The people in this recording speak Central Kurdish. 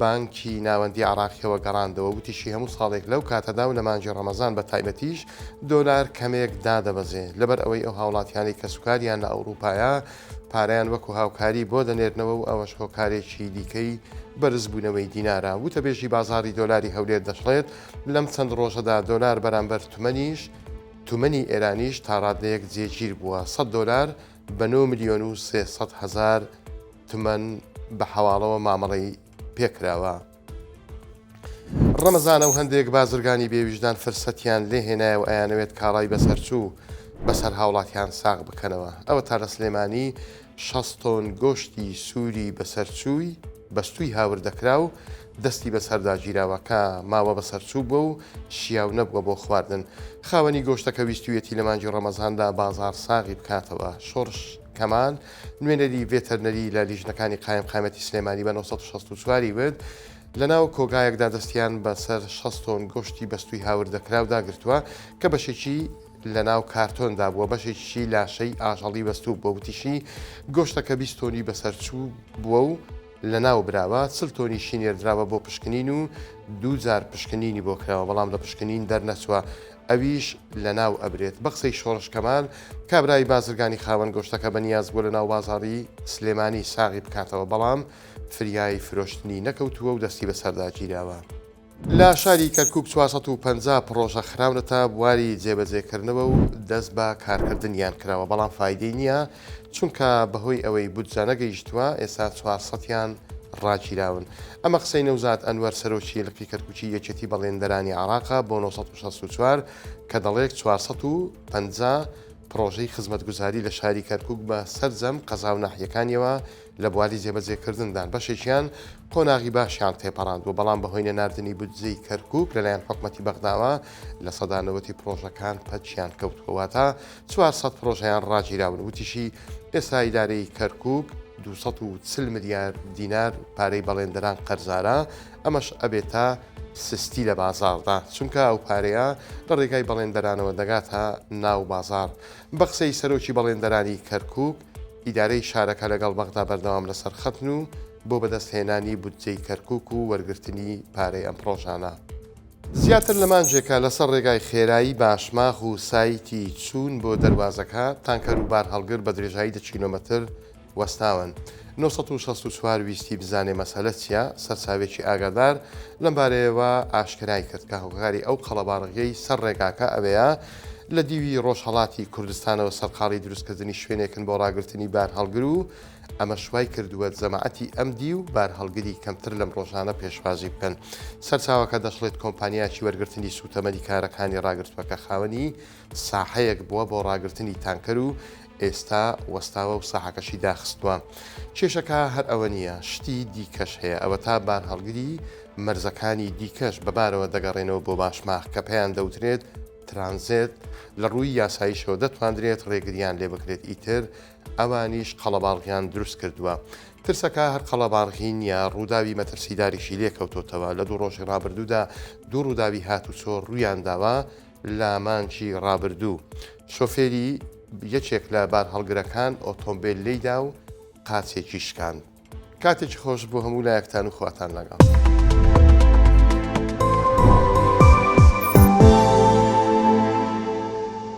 بانکی ناوەندی عێراقییەوە گەڕاندەوە، وتیشی، هەموو ساڵێک لەو کاتەدا و لە مانگی ڕەمەزان بە تایبەتیش دۆلار کەمێک دادەبەزێ، لەبەر ئەوەی ئەو هاوڵاتیانەی کەسوکاریان لە ئەوڕوپایە پارەیان وەکو هاوکاری بۆ دەنێرنەوە و ئەوەش هۆکارێکی دیکەی بەرزبوونەوەی دینارە. وتەبێژی بازاڕی دۆلاری هەولێر دەشڵێت، لەم چەند ڕۆژەدا دۆلار بەرامبەر تومەنیش تومەنی ئێرانیش تاڕادەیەک جێگیر بووە، سەد دۆلار بە نۆ ملیۆن و سێ سەد هەزار تمەن بە حەواڵەوە مامەڵەی پێکراوە. ڕەمەزانە و هەندێک بازرگانی بێویژدان فرسەتیان لێ هێنایە و ئەیانەوێت کاڵای بەسەرچوو بەسەر هاوڵاتیان ساغ بکەنەوە. ئەوەتا لە سلێمانی شەست تۆن گۆشتی سووری بەسەرچووی. بەستووی هاوردەکراو دەستی بەسەردا گیراوە کە ماوە بەسەرچووبووە و شیاو نەبووە بۆ خواردن، خاوەنی گۆشتەکە ویستوویەتی لە مانگی ڕەمەزاندا بازاڕ ساغی بکاتەوە. شۆڕش کەمال، نوێنەری ڤێتەرنەری لە لیژنەکانی قایمقامیەتی سلێمانی بە نۆ سەد و شەست و چوار ی وت، لەناو کۆگایەکدا دەستیان بەسەر شەست تۆن گۆشتی بەستووی هاوردەکراودا گرتووە کە بەشێکی. لەناو کارتۆندا بووە، بەشێکیشی لاشەی ئاژەڵی بەستووبووە، وتیشی، گۆشتەکە بیست تۆنی بەسەرچووبووە و لەناوبراوە، چل تۆنیشی نێردراوە بۆ پشکنین و دوو جار پشکنینی بۆ کراوە، بەڵام لە پشکنین دەرنەچووە ئەویش لەناوئەبرێت. بە قسەی شۆڕش کەمال، کابرای بازرگانی خاوەن گۆشتەکە بەنیازبووە لەناو بازاڕی سلێمانی ساغی بکاتەوە، بەڵام فریای فرۆشتنی نەکەوتووە و دەستی بەسەرداگیراوە. لە شاری کەرکوک چوار سەد و پەنجا پڕۆژە خراونەتە بواری جێبەجێکردنەوە و دەست بە کارکردنیان کراوە، بەڵام فایدەی نییە، چونکە بەهۆی ئەوەی بودجە نەگەیشتووە، ئێستا چوار سەد یان ڕاگیراون. ئەمە قسەی نەوزاد ئەنوەر سەرۆکی لقی کەرکوکی یەکێتی بەڵێندەرانی عێراقە بۆ نۆ سەد و شەست و چوار کە دەڵێک چوار سەد و پەنجا پڕۆژەی خزمەتگوزاری لە شاری کەرکوک بە سەرجەم قەزا و ناحیەکانیەوە لە بواری جێبەجێکردندان بەشێکیان قۆناغی باشیان تێپەڕاندووە، بەڵام بەهۆی نەناردنی بودجەی کەرکووک لەلایەن حکومەتی بەغداوە لە سەدا نەوەتی پڕۆژەکان پەکیان کەوتووە، واتە چوار سەد پڕۆژەیان ڕاگیراون، وتیشی، ئێستا ئیدارەی کەرکووک دوو سەد و چل ملیار دینار پارەی بەڵێندەران قەرزارە، ئەمەش ئەبێتە سستی لە بازاڕدا، چونکە ئەو پارەیە لە ڕێگای بەڵێندەرانەوە دەگاتە ناو بازاڕ، بە قسەی سەرۆکی بەڵێندەرانی کەرکووک، ئیدارەی شارەکە لەگەڵ بەغدا بەردەوام لەسەر خەتن و بۆ بەدەست هێنانی بودجەی کەرکوک و وەرگرتنی پارەی ئەم پڕۆژانە، زیاتر لە مانجێکە لەسەر ڕێگای خێرایی باشماخ و سایتی چوون بۆ دەروازەکە، تانکەر و بارهەڵگر بە درێژایی دە کیلۆمەتر وەستاون. نۆ سەد و شەست و چوار ویستی بزانێ مەسەلە چیە، سەرچاوێکی ئاگادار لەم بارەیەوە ئاشکرای کرد کە هۆکاری ئەو قەڵەباڕغیەی سەر ڕێگاکە ئەوەیە، لە دیوی ڕۆژهەڵاتی کوردستانەوە سەرقاڵی دروستکردنی شوێنێکن بۆ ڕاگرتنی بارهەڵگر و ئەمەش وای کردووە جەماعەتی ئەم دیو بارهەڵگری کەمتر لەم ڕۆژانە پێشوازی بکەن. سەرچاوەکە دەشڵێت کۆمپانیاکی وەرگرتنی سووتەمەنی کارەکانی ڕاگرتووەکە خاوەنی ساحەیەک بووە بۆ ڕاگرتنی تانکەر و ئێستا وەستاوە و ساحەکەشی داخستووە. کێشەکە هەر ئەوە نییە، شتی دیکەش هەیە، ئەوەتا بارهەڵگری مەرزەکانی دیکەش بە بارەوە دەگەڕێنەوە بۆ باشماخ کە پێیان دەوترێت ترانزێت، لە ڕووی یاساییشەوە دەتواندرێت ڕێگرییان لێ بکرێت، ئیتر ئەوانیش قەڵەباڕغیان دروست کردووە. ترسەکە هەر قەڵەباڕغی نییە، ڕووداوی مەترسیداریشی لێ کەوتۆتەوە، لە دوو ڕۆژی ڕابردوودا دوو ڕووداوی هاتوچۆ ڕوویان داوە، لە مانگی ڕابردوو شۆفێری یەکێک لە بارهەڵگرەکان ئۆتۆمبێل لێیدا و قاچێکی شکاند. کاتێکی خۆش بۆ هەموو لایەکتان و خواتان لەگەڵ.